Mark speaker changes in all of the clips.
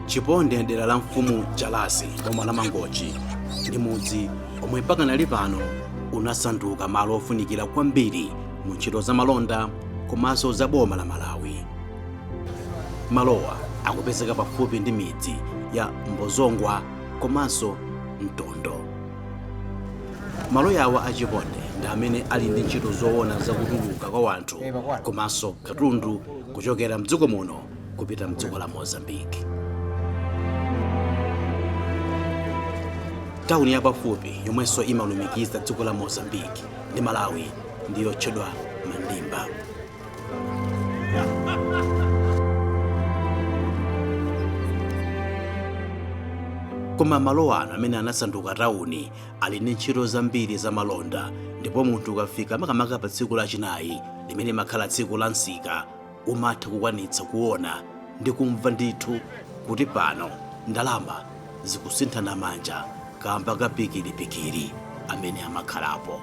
Speaker 1: chiponde mdera la mfumu jalasi boma la mangochi ndi mudzi omwe pakanali pano unasanduka malo ofunikira kwambiri mu ntchito za malonda komanso za boma la malawi malowa akupezeka pafupi ndi midzi ya mbozongwa komanso mtondo malo awa a chiponde ndi amene ali ndi ntchito zoona za kutuluka kwa wanthu komanso katundu kuchokera mdziko muno kupita mdziko la mozambique tawuni yapafupi yomwenso imalumikiza dziko la mozambique ndi malawi ndi yotchedwa mandimba koma malo ano amene anasanduka tawuni ali ndi ntchito zambiri za malonda ndipo munthu ukafika makamaka pa tsiku lachinayi limene limakhala tsiku la msika umatha kukwanitsa kuona ndi kumva ndithu kuti pano ndalama zikusinthana manja kamba ka pikiripikiri amene amakhalapo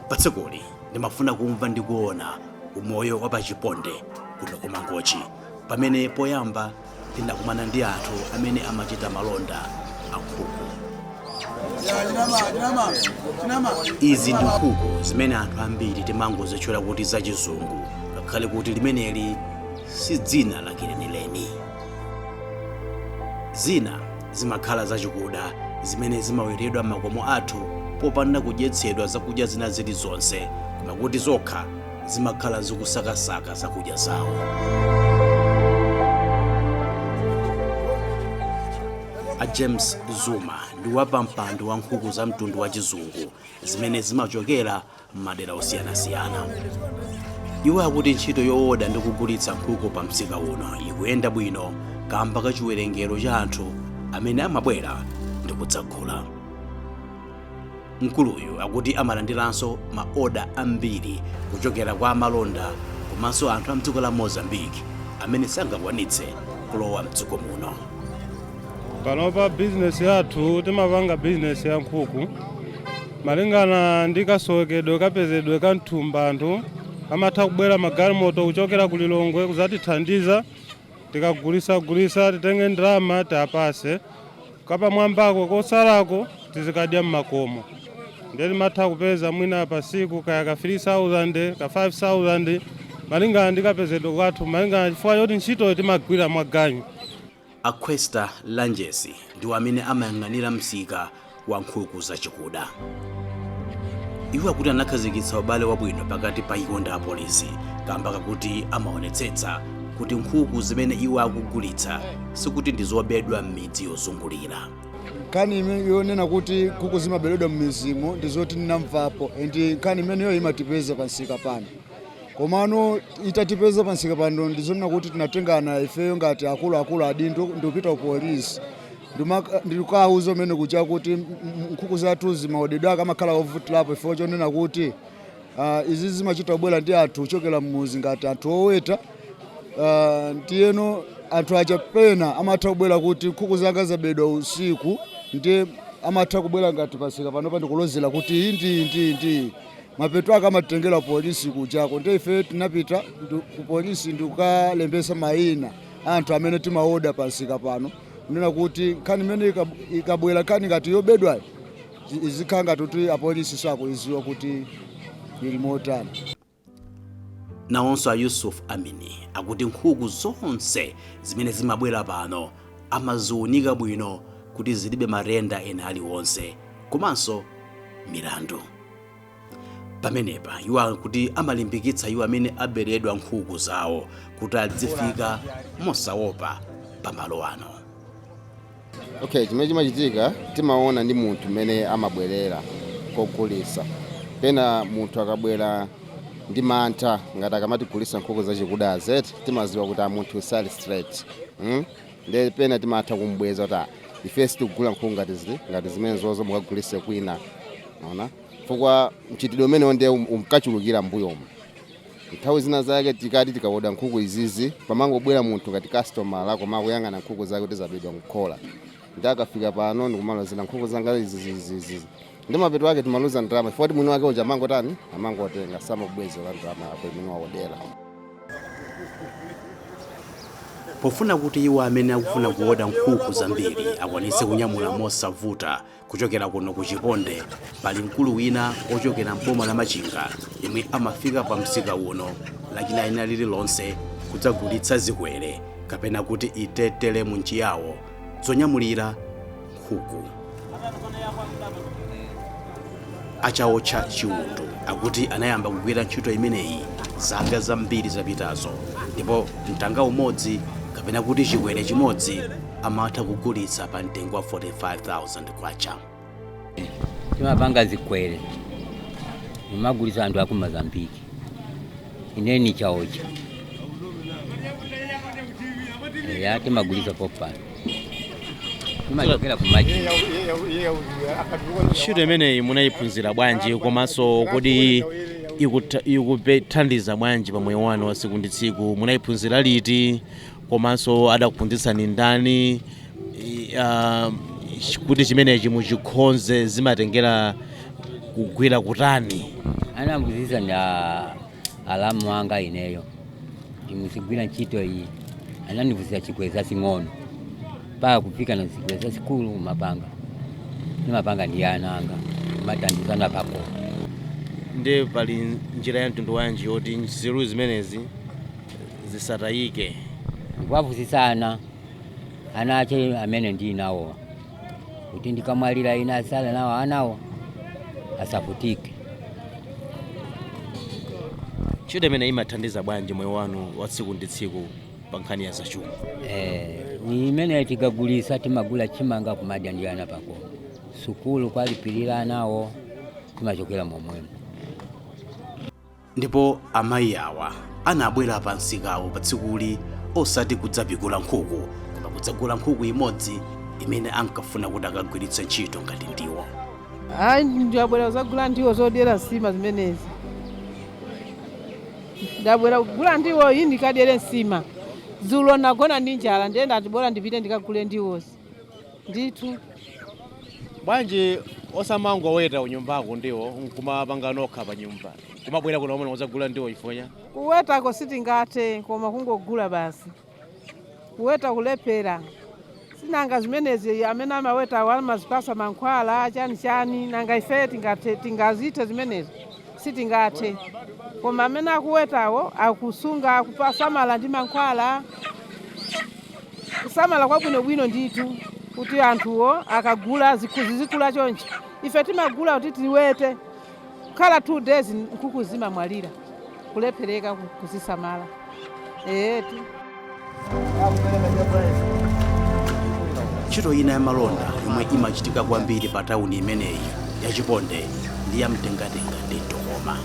Speaker 1: pa tsikuli ndimafuna kumva ndi kuona umoyo wa pachiponde kuno ku mangochi pamene poyamba ndinakumana ndi anthu amene amachita malonda a nkhuku izi ndi nkhuku zimene anthu ambiri timangozitchula kuti zachizungu ngakhale kuti limeneli si dzina lake lenileni Zina zimakhala zachikuda zimene zimawetedwa m'makomo athu popanda kudyetsedwa zakudya zina zilizonse, koma kuti zokha zimakhala zikusakasaka zakudya zawo. A James Zuma ndi wapampando wa nkhuku za mtundu wa chizungu zimene zimachokera m'madera osiyanasiyana. Iwo akuti ntchito yooda ndi kugulitsa nkhuku pa msika uno ikuyenda bwino kamba ka chiwerengero cha anthu amene amabwera ndi kudzagula. Mkuluyu akuti amalandiranso ma oda ambiri kuchokera kwa amalonda komanso anthu a mdziko la Mozambique amene sangakwanitse kulowa mdziko muno.
Speaker 2: Panopa bizinesi yathu timapanga bizinesi ya nkhuku Malingana ndi kasowekedwe kapezedwe ka mthumba anthu amatha kubwera magalimoto kuchokera ku Lilongwe kuzatithandiza tikagulisagulisa titenge ndalama tiapase kapamwambako kosalako tizikadya mmakomo ndiye timatha kupeza mwina pasiku kaya ka 3000 ka 5000 malingana ndi kapezedwe kathu malingana chifukwa choti ntchitoyo timagwira mwa ganyu. A
Speaker 1: Questa Lanjesi ndiwo amene amayang'anira msika wa nkhuku zachikuda. Iwo akuti anakhazikitsa ubale wabwino pakati pa iwo ndi apolisi kamba kakuti amaonetsetsa kuti nkhuku zimene iwo akugulitsa sikuti ndi zobedwa m'midzi yozungulira. nkhani
Speaker 3: ime- yonena kuti nkhuku zimaberedwa m'mizimu ndi zoti ndinamvapo and nkhani imeneyo imatipeza pamsika pano komano itatipeza pamsika pano ndizonena kuti tinatengana ifeyo ngati akuluakulu adindo ndikupita ku polisi Ndimaka- ndikukawuza mmene kuja kuti m- m- nkhuku zathu zimaodedwera kumakhala kovutirapo ifeyo chonena kuti ah, izi zimachita kubwera ndi anthu kuchokera mmuzi ngati anthu oweta Ah, ndiyeno anthu aja pena amatha kubwera kuti nkhuku zanga zabedwa usiku ndiye amatha kubwera ngati pamsika panopa ndikulozera kuti iyi ndi iyi ndi iyi ndi iyi mapeto ake amatitengera kupolisi kujako nde ife tinapita ndu- ku polisi ndikukalembesa mayina anthu amene timaoda pamsika pano kunena kuti nkhani imene ikab- ikabwera nkhani ngati yobedwayo zi- izikhala ngati kuti apolisi sakuiziwa kuti ili
Speaker 1: motani nawonso a yusuf amini akuti nkhuku zonse zimene zimabwera pano amaziunika bwino kuti zilibe matenda ena aliwonse komanso milandu pamenepa iwo akuti amalimbikitsa iwo amene aberedwa nkhuku zawo kuti adzifika mosaopa pamalo ano
Speaker 4: okay chimene chimachitika timaona ndi munthu mmene amabwerera kogulisa pena munthu akabwera ndi mantha ngati akamatigulisa nkhuku zachikuda eti timaziwa kuti ah munthu sali straight mm? Nde pena timatha kumubweza kuti ah ife sitikugula nkhuku ngati zi- ngati zimenezozo mukagulise kwina waona chifukwa mchitidwe umenewo nde um- umkachulukira mbuyomu nthawi zina zake tikati tikaoda nkhuku izizi pamangobwera munthu ngati kastomala koma akuyang'ana nkhuku zake kuti zabedwa mkhola ndi akafika pano ndikumalozera nkhuku zanga izizizizi ndi mapeto ake timaluza ndalama chifukwa choti mwini wake uja amangotani amangotenga samabwezera ndalama yako imene waodera
Speaker 1: pofuna kuti iwo amene akufuna kuoda nkhuku zambiri akwanitse kunyamula mosavuta kuchokera kuno ku chiponde pali mkulu wina ochokera mboma la machinga yemwe amafika pa msika uno lachinayi lililonse kudzagulitsa zikwere kapena kuti itetele m'Chiyawo zonyamulira nkhuku a Chaotcha Chiundu akuti anayamba kugwira ntchito imeneyi zaka zambiri zapitazo ndipo mtanga umodzi kapena kuti chikwere chimodzi amatha kugulitsa pa mtengo wa 45000
Speaker 5: kwacha timapanga zikwere timagulitsa anthu aku Mozambiki Ine ni chaocha timagulisa popani timachokera kumaji
Speaker 6: ntchito imeneyi munayiphunzira bwanji komanso kodi ikutha- ikukuthandizani bwanji pa moyo wanu wa tsiku ndi tsiku munayiphunzira liti komanso adakuphunzitsani ndani i- ah, ch- kuti chimenechi muchikhonze zimatengera kugwira kutani anambuzisa
Speaker 5: ndi a- alamu anga ineyo timuzigwira ntchito iyi anandipunzisa zikwere zasing'ono mpaka kufika na zikwere zasikulu mapanga nimapanga ndi ana anga matandizana pako Nde
Speaker 6: pali njira ya mtundu wanji yoti nzeru zimenezi zisatayike.
Speaker 5: ndikuwaphunzitsa ana ana ache amene ndili nawo kuti ndikamwalira ine asala nawo anawo asavutike
Speaker 6: Ntchito imeneyi imathandiza bwanji moyo wanu wa tsiku ndi tsiku pa nkhani ya zachuma. Eh,
Speaker 5: ni imene tikagulisa timagula chimanga kumadya ndi ana pako sukulu kwalipirira anawo timachokera momwemo
Speaker 1: ndipo amayi awa anabwera pa msikawo pa tsikuli osati kudzapikula nkhuku koma kudzagula nkhuku imodzi imene ankafuna kuti akagwiritse ntchito ngati ndiwo
Speaker 7: ayi ndabwera kuzagula ndiwo zodyera nsima zimenezi ndabwera kugula ndiwo iyi ndikadyere nsima dzulo nagona ndi njala ndiye ndati bora ndipite ndikagule ndiwozi
Speaker 6: ndithu bwanji osamangoweta kunyumbako ndiwo nkumapanga nokha pa nyumba kumabwera kuno komwe kudzagula ndiwo ifonya kuwetako
Speaker 7: sitingathe koma kungogula basi kuweta kulephera si nanga zimenezi amene amawetawo amazipasa mankhwala chani chani nanga ife tingathe tingazithe zimenezi sitingathe koma amene akuwetawo akusunga akusamala ndi mankhwala kusamala kwabwinobwino ndithu kuti anthuwo akagula zikhu- zizikula chonchi ife timagula kuti tiwete kukhala two days nkhuku zimamwalira kulephereka ku- kuzisamala eyetu
Speaker 1: ntchito ina ya malonda yomwe imachitika kwambiri pa tawuni imeneyi ya chipondeyi ndi ya mtengatenga ndi mtokoma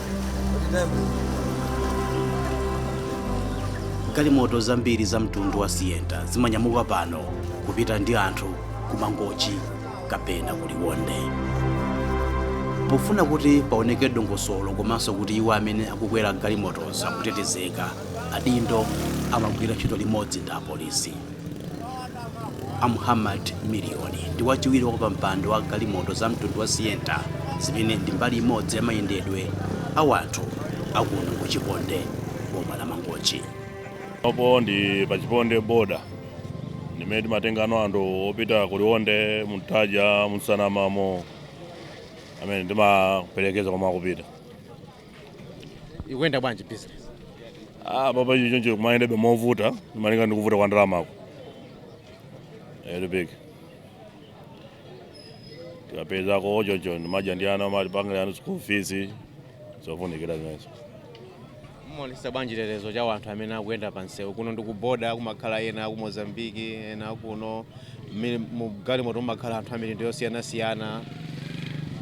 Speaker 1: galimoto zambiri za mtundu wa sienta zimanyamuka pano kupita ndi anthu ku mangochi kapena ku liwonde pofuna kuti paoneke dongosolo komanso kuti iwo amene akukwera galimotozo akutetezeka, adindo amagwira ntchito limodzi ndi apolisi A Muhammad Miliyoni ndi wachiwiri kwa wapampando wa galimoto za mtundu wa Sienta zimene ndi mbali imodzi ya mayendedwe a wanthu akuno ku Chiponde boma la Mangochi.
Speaker 8: Pompano ndi pa Chiponde boda m'mene timatengano anthu opita ku Liwonde, mu Ntaja, mu Nsanamamo amene timaperekeza komwe akupita.
Speaker 6: ikuyenda bwanji business ah
Speaker 8: baba ndi choncho kumayendebe movuta malinga ndi kuvuta kwa ndalamako elipiki tikapezako choncho timadya ndi ana timalipirako ana school fees zofunikira
Speaker 6: zimenezo mumaonetsetsa bwanji chitetezo cha wanthu amene akuyenda pa msewu kuno ndi kuboda kumakhala ena aku mozambiki ena kuno ena mu galimoto mumakhala anthu a mitundu yosiyanasiyana,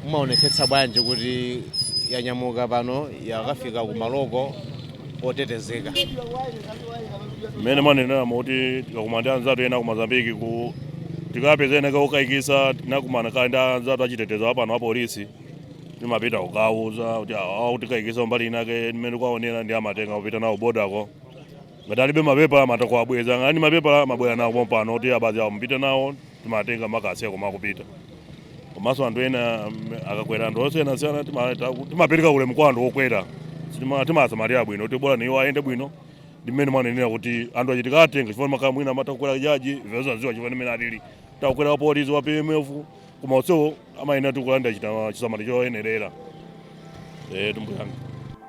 Speaker 6: mumaonetsetsa bwanji kuti yanyamuka pano yakafika kumaloko otetezeka?
Speaker 8: mmene mwaneneramo kuti tikakumana ndi anzathu ena ku Mozambiqueku tikapeza ena kokayikitsa tinakumana kale ndi anzathu achitetezo apano apolisi timapita kukawauza kuti awa akutikayikitsa mbali inake mmene tikuwaonera ndiye amatenga kupita nawo kubodako ngati alibe mapepala amatha kuwabweza ngati ali ndi mapepala amabwera nawo pompano kuti awa basi awa mupite nawo timatenga kukawasiya komwe akupita komanso anthu ena mm, akakwera anthu osiyanasiyana tima- ta- timapereka ulemu kwa anthu okwera Sitima- timasamalira bwino kuti bola iwo ayende bwino ndi mmene mwanenera kuti anthu achitetezo atenge chifukwa kumakhala mwina amatha kukwera jaji osadziwa chifukwa ndi mmene alili atha kukwera wapolisi wa pmf koma onsewo amayenera kulandira chita- chisamaliro choyenerera eh pambuyo panga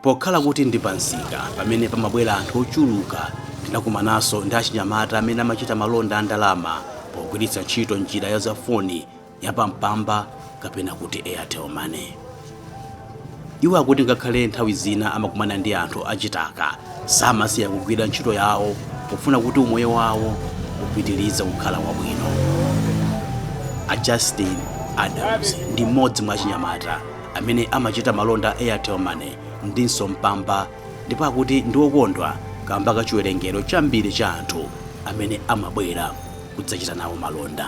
Speaker 8: pokhala
Speaker 1: kuti ndi pa msika pamene pamabwera anthu ochuluka ndinakumananso ndi achinyamata amene amachita malonda a ndalama pogwiritsa ntchito njira ya zafoni ya Mpamba kapena kuti airtel money iwo akuti ngakhale nthawi zina amakumana ndi anthu achitaka, samasiya kugwira ntchito yawo pofuna kuti umoyo wawo upitirize kukhala wabwino a justin adams ndi mmodzi mwa achinyamata amene amachita malonda airtel money ndinso mpamba ndipo akuti ndi okondwa kamba ka chiwerengero chambiri cha anthu amene amabwera kudzachita nawo malonda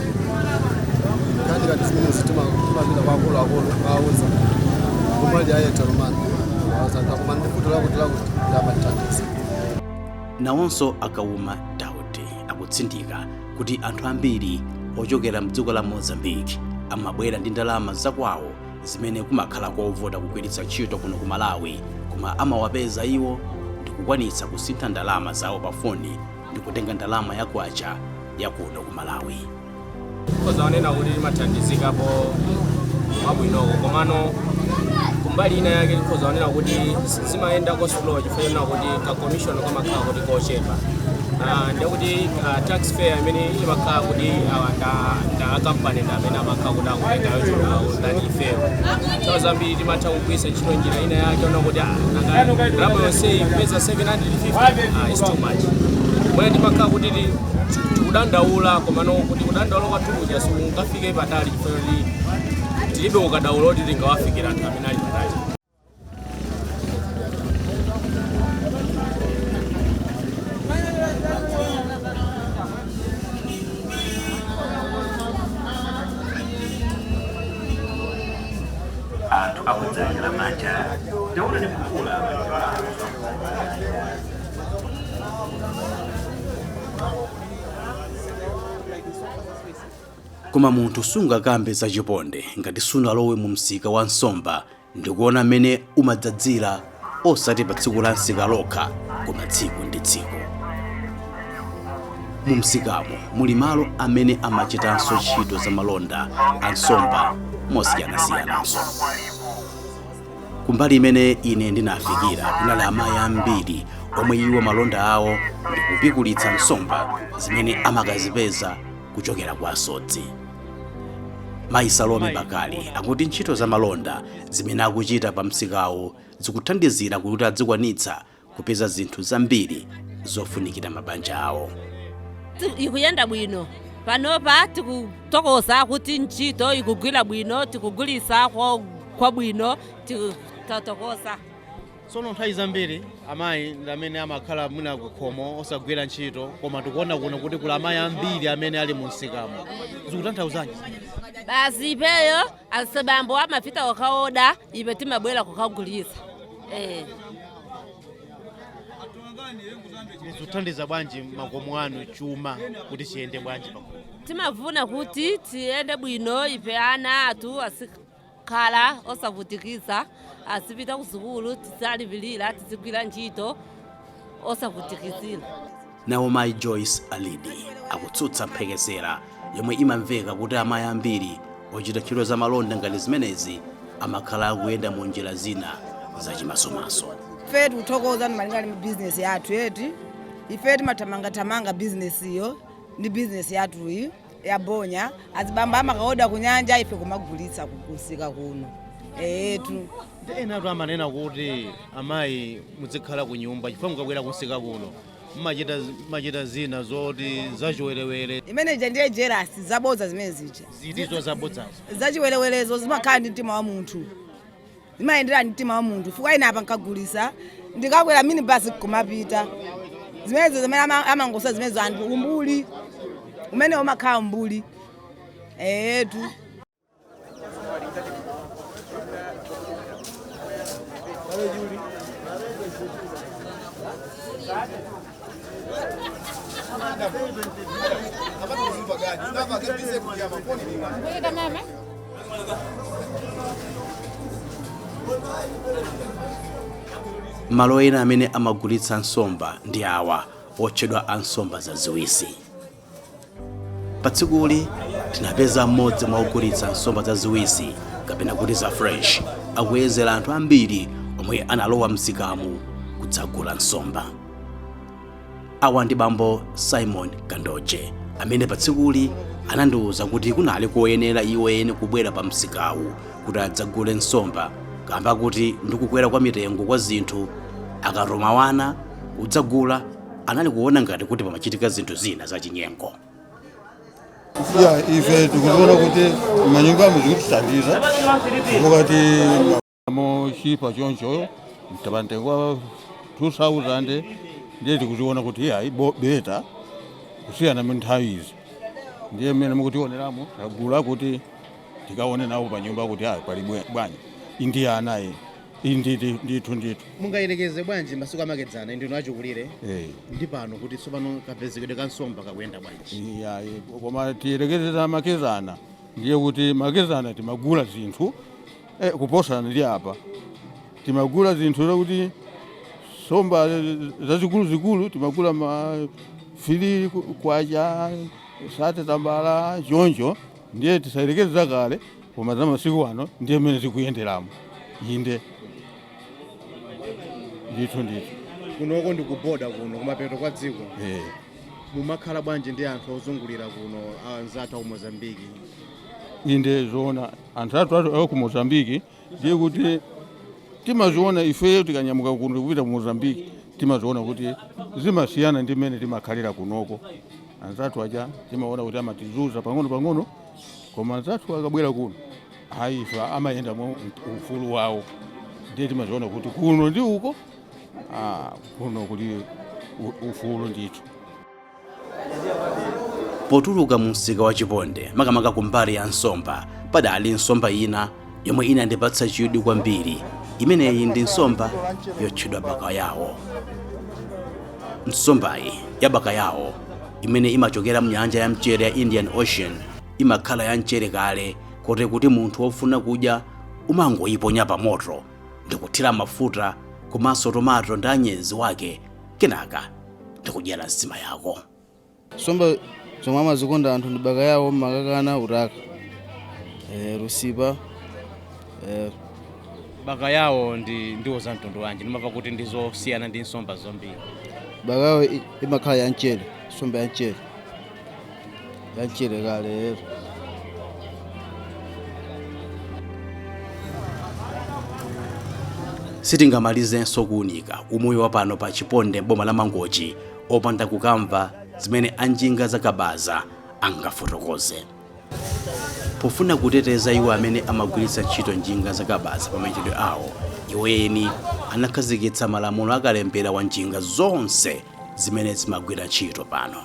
Speaker 9: zikachitika zimenezi timapita kwa akuluakulu kukawauza kumalo a airtel money awazanga koma ndikuti lakuti lakuti
Speaker 1: amatithandiza nawonso a kauma daudi akutsindika kuti anthu ambiri ochokera mdziko la mozambique amabwera ndi ndalama zakwawo zimene kumakhala kovuta kugwiritsa ntchito kuno ku malawi koma amawapeza iwo ndikukwanitsa kusintha ndalama zawo pa foni ndi kutenga ndalama ya kwacha ya kuno ku
Speaker 10: malawi ozaona kuti timathandizikapo mwabwinoko komano kumbali ina yake ozaona kuti zimayenda ko slow chifukwa chonena kuti ka commission kamakhala kuti kochepa Ah, ndekuti ah, tax fair imene imakhala kuti awa nda- nda akampani ndi amene amakhala kuti akutenga yochuluka than ifeyo nthawi zambiri timatha kugwiritsa ntchito njira ina yake yonena kuti ndalama yonse ikupeza 750 is too much mwina timakhala kuti ti- tikudandaula komano kuti kudandaula kwathu kuja sikungafike patali chifukwa kuti tilibe ukadaulo kuti tingawafikire anthu amene ali patali
Speaker 1: anthu akudzadza manja ndaona ni kukula koma munthu sungakambe zachiponde ngati sunalowe mu msika wa nsomba ndikuona mmene umadzadzira osati pa tsiku la msika lokha koma tsiku ndi tsiku mu msikamo muli malo amene amachitanso ntchito za malonda a nsomba mosiyanasiyananso kumbali imene ine ndinafikira kunali amayi ambiri omwe iwo malonda awo ndi kupikulitsa nsomba zimene amakazipeza kuchokera kwa asodzi mayi salome bakali akuti ntchito za malonda Zimene akuchita pa msikawu zikuthandizira kuti adzikwanitsa kupeza zinthu zambiri zofunikira mabanja awo. ikuyenda
Speaker 11: bwino panopa tikutokoza kuti ntchito ikugwira bwino tikugulisa kwabwino tatokoza
Speaker 6: Tsono nthawi zambiri amayi ndi amene amakhala mwina kukhomo osagwira ntchito koma tikuona kuno kuti kuli amayi ambiri amene ali mu msikamo zikutanthauzanji basi
Speaker 11: ipeyo asibambo amapita kukaoda ipe timabwera kukagulisa
Speaker 6: eh. zikuthandiza bwanji makomo anu chuma kuti chiyende bwanji pakhomo timafuna kuti
Speaker 11: tiyende bwino ife ana athu azika khala osavutikiza azipita kusukulu tiziwalipilira tizigwira ntchito osavutikizira nawo
Speaker 1: mayi joyce alidi akutsutsa mphekesera yomwe imamveka kuti amayi ambiri ochita ntchito za malonda ngati zimenezi amakhala akuyenda mu njira zina zachimasomaso
Speaker 12: ife tikuthokoza malinga ndi bizinesi yathu eti ife timathamangathamanga bizinesi iyo ndi bizinesi yathuyi ya bonya azibambo amakaoda kunyanja ife kumagulitsa kumsika kuno eetu enatu
Speaker 6: amanena kuti amayi muzikhala ku nyumba chifukwa mukabwera kunsika kuno mumachita machita zina zoti zachiwerewere imene ija
Speaker 12: ndiye jerasi zabodza zimene zija zitizo zabodzazo
Speaker 6: zachiwerewerezo
Speaker 12: zimakhala ndi mtima wa munthu zimayendera ndi mtima wa munthu chifukwa ine apa nkagulisa ndikakwera minibasi kumapita zimenezo zimene ama- amangosa zimenezo anthu umbuli umene umakhala umbuli eetu
Speaker 1: Kuita mama. malo ena amene amagulitsa nsomba ndi awa otchedwa a nsomba zaziwisi pa tsikuli tinapeza mmodzi mwa ogulitsa nsomba zaziwisi kapena kuti za fresh akuyezera anthu ambiri omwe analowa msikamu kudzagula nsomba awa ndi bambo simon kandoje amene pa tsikuli anandiwuza kuti kunali koyenera iwo eni kubwera pa msikawu kuti adzagule nsomba kamba koti ndikukwera kwa mitengo kwa zinthu akatuma wana kudzagula anali kuona ngati kuti pamachitika zinthu zina zachinyengo
Speaker 13: ya ife tikuziona kuti manyumbamu zikutithandiza mukati mochipa choncho pamtengo wa 2000 ndiye tikuziona kuti ayi bo- beta kusiyana mu nthawi izi ndiye mmene mukutioneramo tagula kuti tikaone nawo pa nyumba kuti ayi pali bwe- bwanji indiya anayi Indidi ndithu ndithu. Mungayerekeze
Speaker 1: bwanji masiku amakedzana ndinu achikulire Eh. ndi pano kuti tsopano kapezekedwe ka nsomba kakuyenda bwanji? Iya, eh, koma
Speaker 13: tiyerekeze za makedzana ndiye kuti makedzana timagula zinthu eh, kuposana ndi apa timagula zinthu zakuti somba zazikuluzikulu timagula ma fili kwacha sate tambala choncho ndiye tisayerekeze zakale koma za masiku ano ndiye mmene zikuyenderamo inde ndithu ndithu kunoko
Speaker 1: ndi kuboda kuno kumapeto kwa dziko eh. mumakhala bwanji ndi anthu ozungulira kuno anzathu aku mozambiki
Speaker 13: inde zoona anthu athu aku mozambiki ndiye kuti timaziona ifeyo tikanyamuka kuno kupita ku mozambiki timaziona kuti zimasiyana ndi mmene timakhalira kunoko anzathu aja timaona kuti amatizuza pang'ono pang'ono koma anzathu akabwera kuno ayi amayenda mwa ufulu wawo ndiye timaziona kuti kuno ndi uko ah, kuno kuli u- ufulu
Speaker 1: ndithu potuluka mu msika wa chiponde makamaka ku mbali ya nsomba padali nsomba ina yomwe inandipatsa chidwi kwambiri imeneyi ndi nsomba yotchedwa bakayawo nsombayi ya bakayawo imene imachokera mnyanja ya mchere ya indian ocean imakhala ya mchere kale kote kuti munthu wofuna kudya umangoyiponya pa moto ndikuthira mafuta komanso tomato ndi anyezi wake kenaka ndikudyera nsima yako
Speaker 14: Nsomba zomwe amazikonda anthu ndi bakayawo, makakana, utaka, eh, lusipa,
Speaker 1: eh, bakayawo ndi ndiwo za mtundu wanji ndimamva kuti ndi zosiyana ndi nsomba zombiri bakayawo
Speaker 14: i- imakhala ya mchere, nsomba ya mchere, ya mchere
Speaker 1: kale. sitingamalizenso kuunika umoyo wapano pa chiponde m'boma la mangochi opanda kukamva zimene anjinga zakabaza angafotokoze pofuna kuteteza iwo amene amagwiritsa ntchito njinga zakabaza pa mayendedwe awo iwo eni anakhazikitsa malamulo akalembera wa njinga zonse zimene zimagwira ntchito pano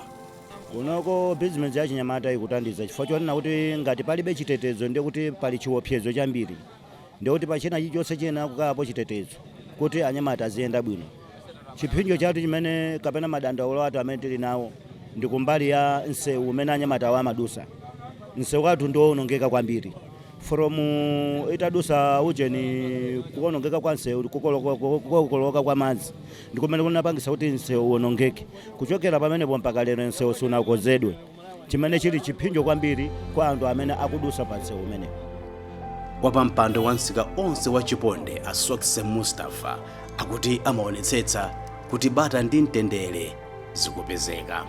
Speaker 1: kunoko
Speaker 15: bizinesi yachinyamatayi ikuthandiza chifukwa chonena kuti ngati palibe chitetezo ndiye kuti pali chiopsezo chambiri ndiye kuti pa china chilichonse chiyenera kukhalapo chitetezo kuti anyamata aziyenda bwino chiphinjo chathu chimene kapena madandaulo athu amene tili nawo ndi kumbali ya msewu umene anyamata awo amadusa msewu wathu ndi wowonongeka kwambiri from uh, itadusa ujeni kuwonongeka kwa msewu kukoloka- kukokoloka kwa madzi ndikumene kunapangisa kuti msewu uwonongeke kuchokera pamenepo mpaka lero msewu sunakozedwe chimene chili chiphinjo kwambiri kwa anthu amene akudutsa pa msewu umenewu.
Speaker 1: wapampando wa msika onse wa chiponde a sokse mustafa akuti amaonetsetsa kuti bata ndi mtendere zikupezeka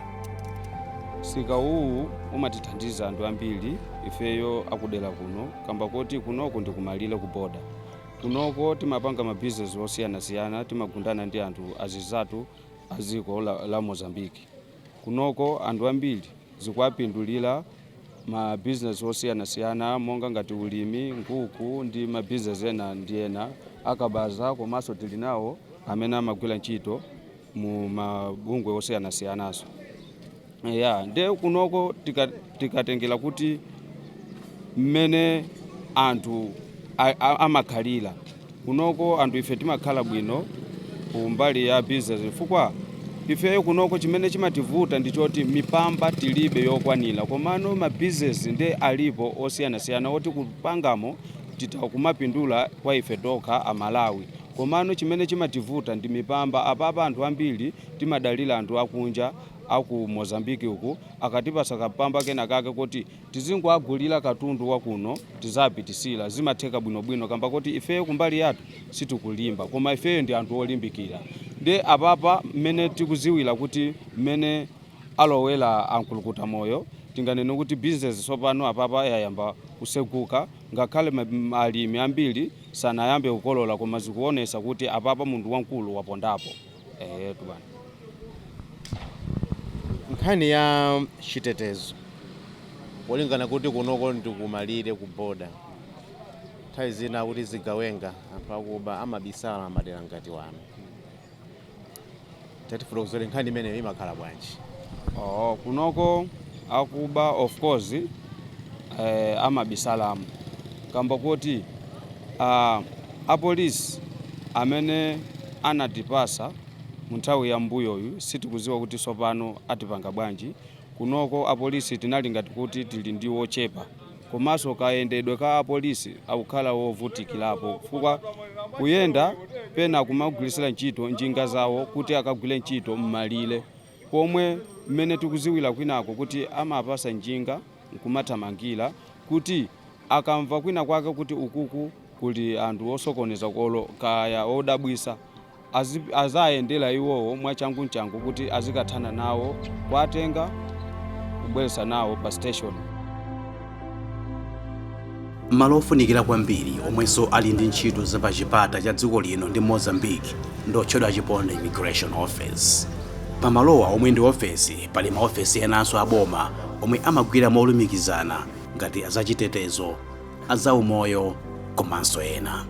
Speaker 16: msika uwu umatithandiza anthu ambiri ifeyo akudera kuno kamba koti kunoko ndi kumalire ku boda kunoko timapanga mabizinesi osiyanasiyana timagundana ndi anthu azinzathu a dziko la, la mozambiki Kunoko anthu ambiri zikuwapindulira ma business osiyanasiyana monga ngati ulimi, nkhuku ndi ma business ena ndi ena a kabaza komanso tili nawo amene amagwira ntchito mu mabungwe osiyanasiyananso. Eya, nde kunoko tika- tikatengera kuti mmene anthu a- a- amakhalira Kunoko anthu ife timakhala bwino ku mbali ya business chifukwa ifeyo kunoko chimene chimativuta ndi choti mipamba tilibe yokwanira komano ma business nde alipo osiyanasiyana oti kupangamo titha kumapindula kwa ife tokha a Malawi komano chimene chimativuta ndi mipamba apapa anthu ambiri timadalira anthu akunja a ku Mozambique uku akatipatsa kampamba kenakake koti tizingoagulila katundu wakuno tizapitisira zimatheka bwino bwino kamba koti ifeyo kumbali yathu sitikulimba koma ifeyo ndi anthu olimbikila nde apapa mmene tikuziwila kuti mmene alowela a nkulukutamoyo tinganene kuti business sopano apapa yayamba kuseguka ngakhale alimi ambili sanayambe kukolola koma zikuonesa kuti apapa munthu wankulu wapondapo. Eyetu
Speaker 6: bwana. nkhani ya chitetezo polingana kuti kunoko ndikumalire ku boda nthawi zina kuti zigawenga anthu akuba amabisala m'madera ngati wano tatifuna kudziwa nkhani imeneyo imakhala bwanji Oh, kunoko
Speaker 16: akuba of course eh, amabisalamo kamba koti ah, apolisi amene anatipasa mu nthawi ya mbuyoyu sitikuziwa kuti tsopano atipanga bwanji kunoko apolisi tinali ngati kuti tili ndi wochepa komanso kayendedwe ka apolisi kakukhala wovutikirapo chifukwa kuyenda pena kumagwirisira ntchito njinga zawo kuti akagwire ntchito m'malire pomwe mmene tikuziwila kwinako kuti amapasa njinga nkumathamangila kuti akamva kwina kwake kuti ukuku kuli anthu osokoneza olo kaya odabwisa azayendela iwowo mwachangu nchangu kuti azikathana nawo kuwatenga kubwelesa nawo pa station.
Speaker 1: malo ofunikira kwambiri omwenso ali ndi ntchito za pa chipata cha dziko lino ndi mozambique ndi otchedwa chiponde immigration office pamalowa omwe ndi ofesi pali maofesi enanso aboma omwe amagwira molumikizana ngati azachitetezo azaumoyo komanso ena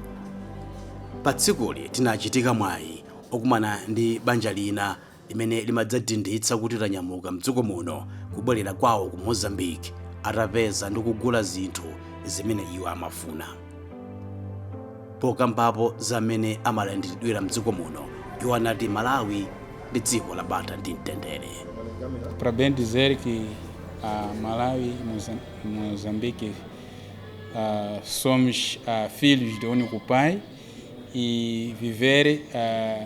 Speaker 1: pa tsikuli tinachitika mwayi okumana ndi banja lina limene limadzadindisa kuti lanyamuka mdziko muno kubwerera kwawo ku mozambique atapeza ndi kugula zinthu zimene iwo amafuna pokambapo za mmene amalandiridwira mdziko muno iwo anati malawi ndi dziko la bata ndi mtendere para
Speaker 17: bem dizer que a Malawi e Mozam- Moçambique ah, somos ah, filhos de um único pai e viver ah,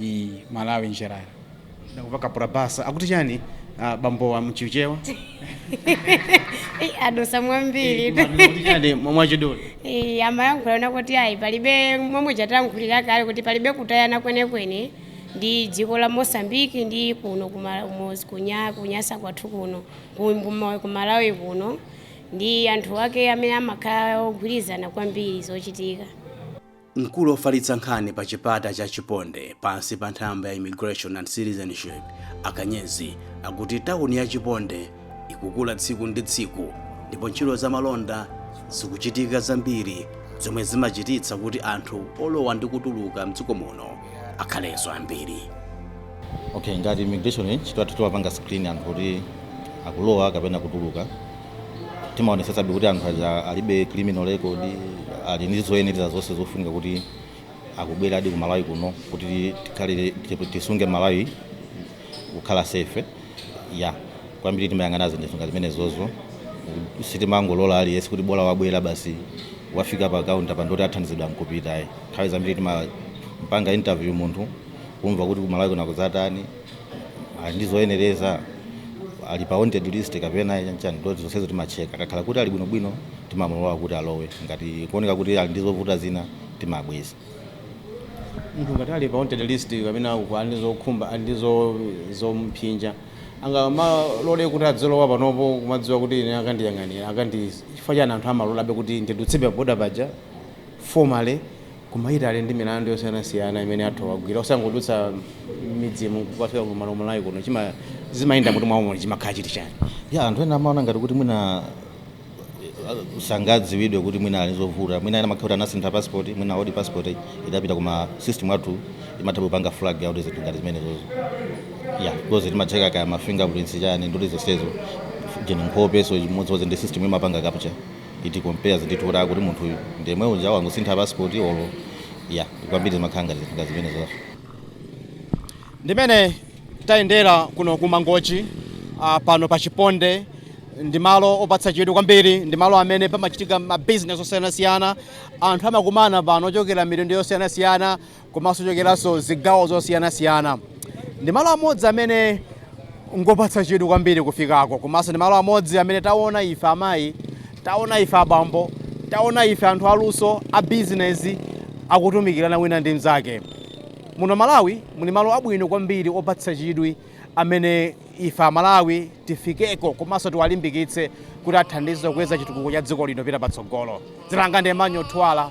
Speaker 17: Ii, Malawi em geral.
Speaker 18: Nakuvaka kapena bwanji akuti chani ah, bambowa m'Chichewa Ei,
Speaker 19: adusa mwambiri kuti chani mwa-
Speaker 18: mwachidule Ei, amayankhula
Speaker 19: kuti ayi palibe momwe ndayankhulira kale kuti palibe kusiyana kwenekwene ndi dziko la mosambiki ndi kuno kuma- kumozi- kunya- kunyasa kwathu kuno ku- kuma- ku malawi kuno ndi anthu ake amene amakhala ogwirizana kwambiri zochitika
Speaker 1: Mkulu ofalitsa nkhani pa chipata cha Chiponde pansi pa nthambi ya Immigration and Citizenship Akanyezi akuti tawuni ya Chiponde ikukula tsiku ndi tsiku ndipo ntchito za malonda zikuchitika zambiri zomwe zimachititsa kuti anthu olowa ndi kutuluka mdziko muno akhalenso ambiri.
Speaker 20: Okay, ngati immigration ntchito yathu timapanga screen anthu kuti akulowa kapena kutuluka timaonetsetsabe kuti anthu aja alibe criminal record ali ndi zoyenereza zonse zofunika kuti akubweradi ku malawi kuno kuti tikhale tisunge malawi kukhala safe ya kwambiri timayang'ana zinthu ngati zimenezozo sitimangolola aliyense kuti bola wabwera basi wafika pa kaunta pa ndiye kuti athandizidwe nkupita ayi nthawi zambiri timampanga interview munthu kumva kuti kumalawi kuno kuzatani ali ndi zoyenereza ali pa wanted list kapena chanchani ndiye kuti zonsezo timatcheka akakhala kuti ali bwinobwino timamulola kuti alowe ngati kukuoneka kuti ali ndi zovuta zina timabweza
Speaker 6: munthu ngati ali pa wanted list kapena uku ali ndi zokhumba ali ndi zo- zomphinja angalole kuti adzilowa panopo kumadziwa kuti ine akandiyang'anira akandi chifukwa chani anthu amalolabe kuti ndidutse pa boda paja formally Koma ali ndi milandu yosiyanasiyana imene anthu agwira osangodutsa mmidzimu nkukafika ku Malawi Malawi kuno zimayenda m'mutu mwawomo chimakhala chiti chani? Yeah, anthu ena amaona
Speaker 20: ngati kuti mwina sangadziwidwe kuti mwina ali ndi zovuta mwina ena amakhala kuti anasintha passport mwina old passport idapita koma system yathu imatha kupanga flag out zinthu ngati zimenezozo yeah because timatcheka kaya ma fingerprints chani ndiye kuti zonsezo then nkhope so chimodzimodzi ndi system imapanga capture it compare zinthu kuti kuti munthu uyu ndi yemwe uja wangosintha passport olo ya kwambiri zimakhala ngati zinthu ngati zimene zozo ndimene
Speaker 21: tayendera kuno ku mangochi ah, pano pa chiponde ndi malo opatsa chidwi kwambiri ndi malo amene pamachitika mabizinesi osiyanasiyana anthu amakumana pano ochokera mitundu yosiyanasiyana komanso ochokeranso zigawo zosiyanasiyana ndi malo amodzi amene ngopatsa chidwi kwambiri kufikako komanso ndi malo amodzi amene taona ife amayi taona ife abambo taona ife anthu aluso a bizinesi akutumikirana wina ndi mnzake muno malawi muli malo abwino kwambiri opatsa chidwi amene ife amalawi tifikeko komanso tiwalimbikitse kuti athandize kukweza chitukuko cha dziko lino kupita patsogolo dzina langa ndi Emmanuel Thuwala